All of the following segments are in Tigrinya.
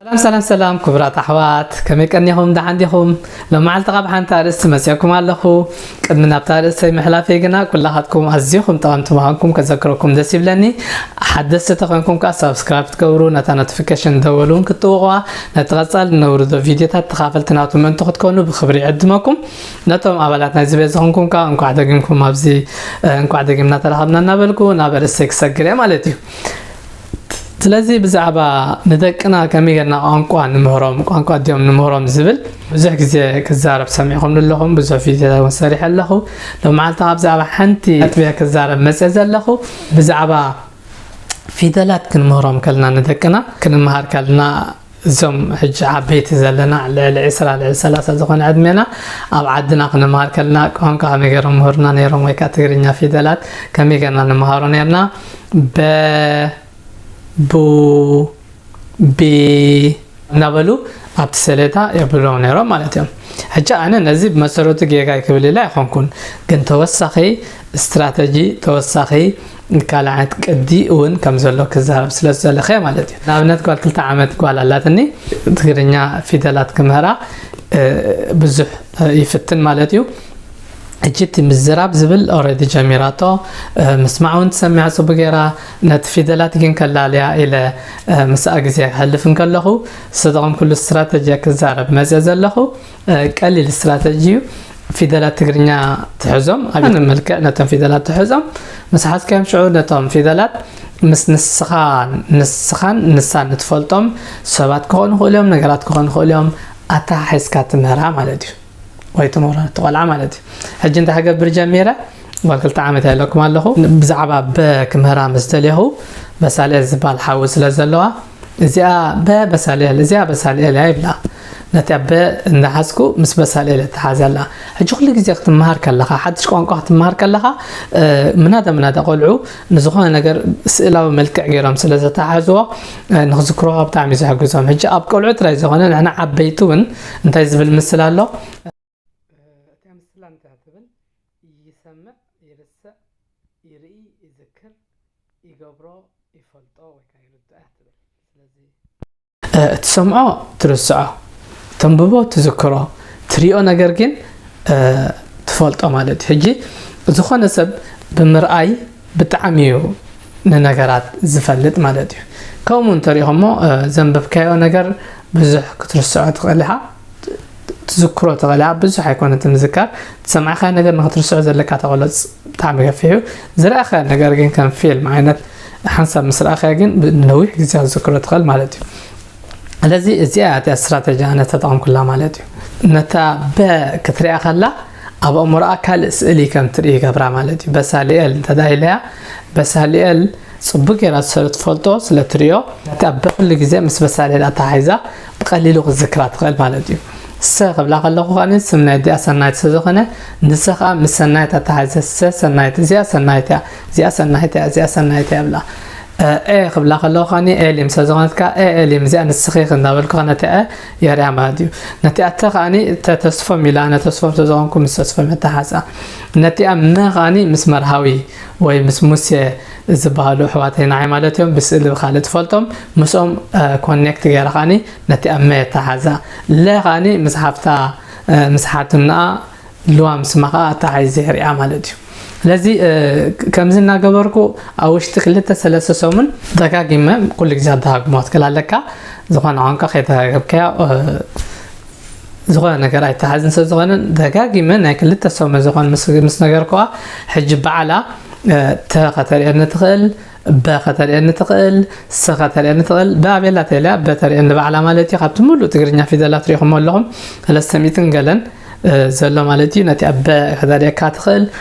ሰላም ሰላም ሰላም ክቡራት ኣሕዋት ከመይ ቀኒኹም ደሓን ዲኹም ሎማዓልቲ ካብ ሓንቲ ኣርእስቲ መፂኦኩም ኣለኹ ቅድሚ ናብታ ኣርእስተይ ምሕላፈይ ግና ኩላኻትኩም ኣዝኹም ጠቐምቲ ምዃንኩም ከዘክረኩም ደስ ይብለኒ ሓደስቲ ተኾንኩም ከዓ ሳብስክራይብ ትገብሩ ነታ ኖቲፊኬሽን ደወል እውን ክትጥውቑዋ ነቲ ቀፃሊ ነውርዶ ቪድዮታት ተኻፈልቲ ናቱ ምእንቲ ክትኮኑ ብክብሪ ይዕድመኩም ነቶም ኣባላት ናይዚ ቤት ዝኾንኩም ከዓ እንኳዕ ደጊምኩም ኣብዚ እንኳዕ ደጊምና ተረኸብና እናበልኩ ናብ ኣርእስተይ ክሰግር እየ ማለት እዩ ስለዚ ብዛዕባ ንደቅና ከመይ ጌርና ቋንቋ ንምህሮም ቋንቋ ድዮም ንምህሮም ዝብል ብዙሕ ግዜ ክዛረብ ሰሚዕኹምኒ ኣለኹም ብዙሕ ቪድዮታት እውን ሰሪሐ ኣለኹ ሎመዓልቲ ካብ ብዛዕባ ሓንቲ ነጥቢ ክዛረብ መፀ ዘለኹ ብዛዕባ ፊደላት ክንምህሮም ከለና ንደቅና ክንምሃር ከለና እዞም ሕጂ ዓበይቲ ዘለና ልዕሊ ዕስራ ልዕሊ ሰላሳ ዝኾነ ዕድሜና ኣብ ዓድና ክንምሃር ከለና ቋንቋ ከመይ ገይሮም ምሁርና ነይሮም ወይ ከዓ ትግርኛ ፊደላት ከመይ ገርና ንምሃሮ ነርና በ ቡ ቢ እናበሉ ኣብቲ ሰሌታ የብሎም ነይሮም ማለት እዮም ሕጂ ኣነ ነዚ ብመሰረቱ ጌጋ ክብል ኢለ ኣይኮንኩን ግን ተወሳኺ ስትራተጂ ተወሳኺ ካልዓት ቅዲ እውን ከም ዘሎ ክዛረብ ስለ ዝዘለኸ እየ ማለት እዩ። ንኣብነት ጓል ክልተ ዓመት ጓል ኣላትኒ ትግርኛ ፊደላት ክምህራ ብዙሕ ይፍትን ማለት እዩ። እጂ እቲ ምዝራብ ዝብል ኦረዲ ጀሚራቶ ምስማዕ እውን ትሰሚዕ ፅቡ ገይራ ነቲ ፊደላት ግን ከላልያ ኢለ ምስኣ ግዜ ክሕልፍ እንከለኹ ዝተጠቐምኩሉ ስትራተጂያ ክዛረብ መፅእ ዘለኹ ቀሊል ስትራተጂ እዩ ፊደላት ትግርኛ ትሕዞም ኣብ መልክዕ ነቶም ፊደላት ትሕዞም ምስ ሓዝካዮም ሽዑ ነቶም ፊደላት ምስ ንስኻ ንስኻን ንሳን እትፈልጦም ሰባት ክኾኑ ክእሉ እዮም ነገራት ክኾኑ ክእሉ እዮም ኣተሓሒዝካ ትምህራ ማለት እዩ ወይ ትምህሮ ትቆልዓ ማለት እዩ ሕጂ እንታይ ክገብር ጀሚረ ጓል ክልተ ዓመት ኣለኩም ኣለኹ ብዛዕባ በ ክምህራ ምስ ደለኹ በሳለ ዝበሃል ሓዊ ስለ ዘለዋ እዚኣ በ በሳልኤል እዚኣ በሳልኤል እያ ይብላ ነታ በ እንዳሓዝኩ ምስ በሳልኤል እተሓዘላ ሕጂ ኩሉ ግዜ ክትመሃር ከለኻ ሓድሽ ቋንቋ ክትመሃር ከለኻ ምናዳ ምናዳ ቆልዑ ንዝኾነ ነገር ስእላዊ መልክዕ ገይሮም ስለ ዘተሓዝዎ ንክዝክርዋ ብጣዕሚ ዘሕግዞም ሕጂ ኣብ ቆልዑ ጥራይ ዝኾነ ንሕና ዓበይቲ እውን እንታይ ዝብል ምስል ኣሎ እታ ምስላ እንታይ ትብል? ይሰምዕ ይርስዕ ይርኢ ይዝክር ይገብሮ ይፈልጦ ወይ ከኣ ይርድኦ እያ ትብል። ስለዚ። እትሰምዖ ትርስዖ፣ ተንብቦ ትዝክሮ፣ ትሪኦ ነገር ግን ትፈልጦ ማለት እዩ። ሕጂ ዝኾነ ሰብ ብምርኣይ ብጣዕሚ እዩ ንነገራት ዝፈልጥ ማለት እዩ። ከምኡ እንተሪኢኹሞ ዘንበብካዮ ነገር ብዙሕ ክትርስዖ ትኽእል ኢኻ። ትዝክሮ ተቐልያ ብዙሕ ኣይኮነን ትምዝከር ዝሰማዕካዮ ነገር ንክትርስዖ ዘለካ ተቐሎ ብጣዕሚ ገፊሕ እዩ ዝረኣኻዮ ነገር ግን ከም ፊልም ዓይነት ሓንሳብ ምስ ረኣኻዮ ግን ንነዊሕ ግዜ ዝዝክሮ ትኽእል ማለት እዩ ስለዚ እዚኣ እቲያ ስትራተጂ ኣነ ተጠቐምኩላ ማለት እዩ ነታ በ ክትሪኣ ከላ ኣብ ኣእምሮኣ ካልእ ስእሊ ከም ትርኢ ይገብራ ማለት እዩ በሳሊኤል እንተዳ ኢለያ በሳሊኤል ጽቡቅ ጌራ ስለ ትፈልጦ ስለ ትሪኦ እቲ ኣበ ኩሉ ግዜ ምስ በሳሌል ኣተሓሒዛ ብቀሊሉ ክትዝክራ ትክእል ማለት እዩ ሰ ክብላ ከለኩ ከኣ ስም ናይ ኣዲኣ ሰናይት ስለ ዝኮነ ንሰ ከኣ ምስ ሰናይት ኣተሓሒዘ ሰ ሰናይት እዚኣ ሰናይት እያ እዚኣ ሰናይት እያ እዚኣ ሰናይት እያ ይብላ ኤ ክብላ ከለኩ ከኣ ኤሊም ስለ ዝኮነት ከኣ ኤ ኤሊም እዚኣ ንስኪ እንዳበልኩ ነቲ ዐ የርያ ማለት እዩ ነቲ ኣተ ከኣ ተተስፎም ኢላ ኣነ ተስፎም ስለ ዝኮንኩ ምስ ተስፎም ኣተሓሓዛ ነቲኣ መ ከኣ ምስ መርሃዊ ወይ ምስ ሙሴ ዝበሃሉ ኣሕዋተይ ንዓይ ማለት እዮም ብስእሊ ብካልእ ትፈልጦም ምስኦም ኮኔክት ገይረ ከዓኒ ነቲ ኣብ መ ኣተሓሕዛ ለ ከዓኒ ምስ ሓፍታ ምስ ሓትንኣ ልዋም ስማ ከዓ ኣተሓሒዘ ይሪኣ ማለት እዩ ስለዚ ከምዚ እናገበርኩ ኣብ ውሽጢ ክልተ ሰለስተ ሰሙን ደጋጊመ ኩሉ ግዜ ኣደጋግሞ ትክል ኣለካ ዝኾነ ቋንቋ ከይተረጋገብካዮ ዝኾነ ነገር ኣይተሓዝን ስለዝኾነ ደጋጊመ ናይ ክልተ ሰሙን ዝኾን ምስ ነገርኩዋ ሕጂ በዓላ ተ ከተርእየኒ ትኽእል በ ከተርእየኒ ትኽእል ሰ ከተርእየኒ ትኽእል ብኣቤላ ተልያ በተርእየኒ በዓላ ማለት እዩ ካብቲ ሙሉእ ትግርኛ ፊደላት ሪኢኹሞ ኣለኹም ስለስተሚትን ገለን ዘሎ ማለት እዩ ነቲ ኣበ ከተርእየካ ትኽእል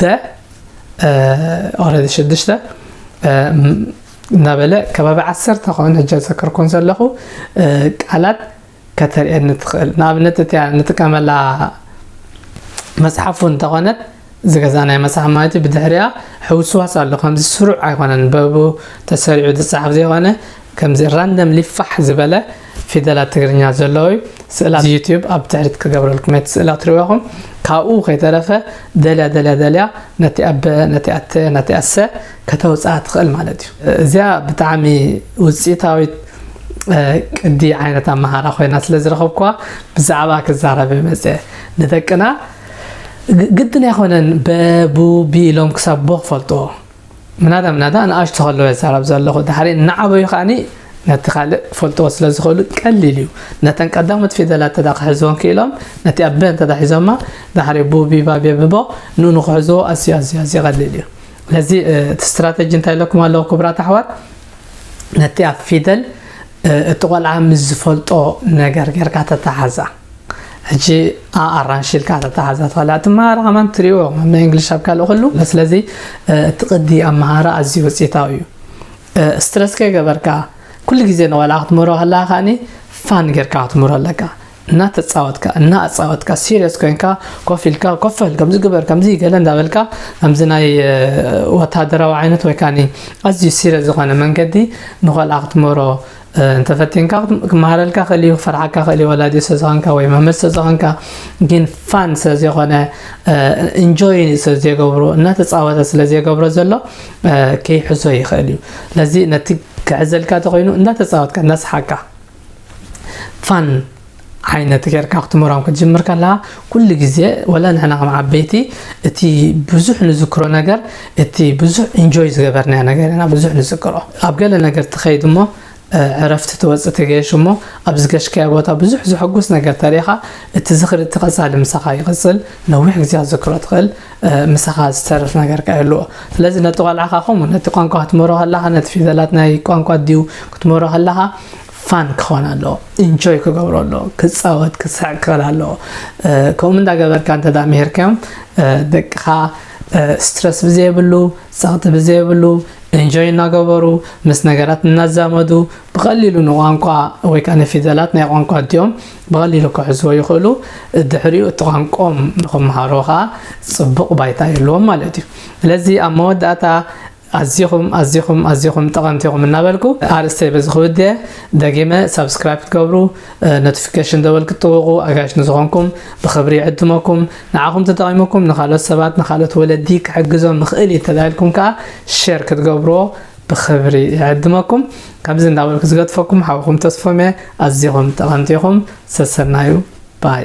ደ ኦረዲ ሽዱሽተ እናበለ ከባቢ ዓሰርተ ከሆን ሕጃ ዘከርኮን ዘለኹ ቃላት ከተርእየኒ ትኽእል ንኣብነት እቲያ ንጥቀመላ መፅሓፉ እንተኾነት ዝገዛ ናይ መፅሓፍ ማለት እዩ ብድሕሪያ ሕውስዋስ ኣሎ ከምዚ ስሩዕ ኣይኮነን በቡ ተሰሪዑ ዝፅሓፍ ዘይኮነ ከምዚ ራንደም ሊፋሕ ዝበለ ፊደላት ትግርኛ ዘለዎ እዩ ስእላ እዚ ዩቲዩብ ኣብ ትሕሪት ክገብረልኩም ነቲ ስእላ ትሪእዎ ኢኹም ካብኡ ከይተረፈ ደልያ ደልያ ደልያ ነቲ ኣበ ነቲ ኣተ ነቲ ኣሰ ከተውፅኣ ትኽእል ማለት እዩ እዚያ ብጣዕሚ ውፅኢታዊት ቅዲ ዓይነት ኣመሃራ ኮይና ስለ ዝረኸብኩዋ ብዛዕባ ክዛረበ መፀ ንደቅና ግድን ኣይኮነን በቡ ቢ ኢሎም ክሳብ ቦ ክፈልጥዎ ምናዳ ምናዳ ንኣሽቱ ከለዉ የዛረብ ዘለኹ ድሕሪ እናዓበዩ ከኣኒ ነቲ ካልእ ክፈልጥዎ ስለ ዝኽእሉ ቀሊል እዩ ነተን ቀዳሞት ፊደላት እንተ ክሕዝዎን ክኢሎም ነቲ ኣበ እንተ ሒዞማ ድሕሪ ቡቢ ባቤ ብቦ ንኡ ንክሕዝዎ ኣዝዩ ኣዝዩ ኣዝዩ ቀሊል እዩ ለዚ እቲ ስትራተጂ እንታይ ኢለኩም ኣለዎ ክቡራት ኣሕዋት ነቲ ኣብ ፊደል እቲ ቆልዓ ምስ ዝፈልጦ ነገር ጌርካ ተተሓዛ ሕጂ ኣ ኣራንሺ ኢልካ ተተሓዛ ትኽእላ እቲ መሃራ ከማን ትሪኦ ብ እንግሊሽ ኣብ ካልእ ኩሉ ስለዚ እቲ ቅዲ ኣብ መሃራ ኣዝዩ ውጽኢታዊ እዩ ስትረስ ከይገበርካ ኩሉ ግዜ ንቆልዓ ክትምህሮ ከለካ ከኣኒ ፋን ጌርካ ክትምህሮ ኣለካ እናተፃወትካ እናኣፃወትካ ሲሪየስ ኮይንካ ኮፍ ኢልካ ኮፈል ከምዚ ግበር ከምዚ ገለ እንዳበልካ ከምዚ ናይ ወታደራዊ ዓይነት ወይ ካኒ ኣዝዩ ሲሪየስ ዝኾነ መንገዲ ንቆልዓ ክትምህሮ እንተፈቲንካ ክመሃረልካ ክእል እዩ ክፈርሓካ ክእል እዩ ወላዲ ስለዝኾንካ ወይ መምህር ስለዝኾንካ ግን ፋን ስለዘይኮነ እንጆይ ስለዘይገብሮ እናተፃወተ ስለዘይገብሮ ዘሎ ከይሕዞ ይኽእል እዩ ስለዚ ነቲ ክሕዘልካ ተኮይኑ እንዳተፃወትካ እንዳስሓቅካ ፋን ዓይነት ጌርካ ክትምህሮም ክትጅምር ከለኻ ኩሉ ግዜ ወላ ንሕና ከም ዓበይቲ እቲ ብዙሕ ንዝክሮ ነገር እቲ ብዙሕ ኢንጆይ ዝገበርናዮ ነገር ኢና ብዙሕ ንዝክሮ ኣብ ገለ ነገር ትኸይድ እሞ ዕረፍቲ ትወፅእ ትገሽ እሞ ኣብ ዝገሽካዮ ቦታ ብዙሕ ዘሐጉስ ነገር ተሪኻ እቲ ዝኽሪ እቲ ቀፃሊ ምሳኻ ይቕፅል ነዊሕ ግዜ ዝክሮ ትኽእል ምሳኻ ዝተርፍ ነገር ከ ኣለዎ ስለዚ ነቲ ቆልዓኻ ከምኡ ነቲ ቋንቋ ክትምህሮ ከለኻ ነቲ ፊደላት ናይ ቋንቋ ድዩ ክትምህሮ ከለኻ ፋን ክኾን ኣለዎ ኢንጆይ ክገብሮ ኣለዎ ክፃወት ክስሕቅ ክኽእል ኣለዎ ከምኡ እንዳገበርካ እንተ ምሄርካዮም ደቅኻ ስትረስ ብዘየብሉ ፀቕጢ ብዘየብሉ ኢንጆይ እናገበሩ ምስ ነገራት እናዛመዱ ብቐሊሉ ንቋንቋ ወይ ከዓ ንፊደላት ናይ ቋንቋ እዲኦም ብቐሊሉ ክሕዝዎ ይኽእሉ ድሕሪኡ እቲ ቋንቆም ንክምሃሮ ከዓ ፅቡቕ ባይታ ይህልዎም ማለት እዩ ስለዚ ኣብ መወዳእታ ኣዚኹም ኣዚኹም ኣዚኹም ጠቐምቲ ኢኹም እናበልኩ ኣርእስተይ በዚ ክውድእ ደጊመ ሳብስክራይብ ክትገብሩ ኖቲፊኬሽን ደወል ክትጥውቑ ኣጋይሽ ንዝኾንኩም ብኽብሪ ይዕድመኩም ንዓኹም ተጠቒሙኩም ንካልኦት ሰባት ንካልኦት ወለዲ ክሕግዞም ምኽእል እዩ ተላኢልኩም ከዓ ሼር ክትገብርዎ ብኽብሪ ይዕድመኩም ከምዚ እንዳበልኩ ዝገጥፈኩም ሓውኹም ተስፎም እየ ኣዚኹም ጠቐምቲ ኢኹም ሰሰናዩ ባይ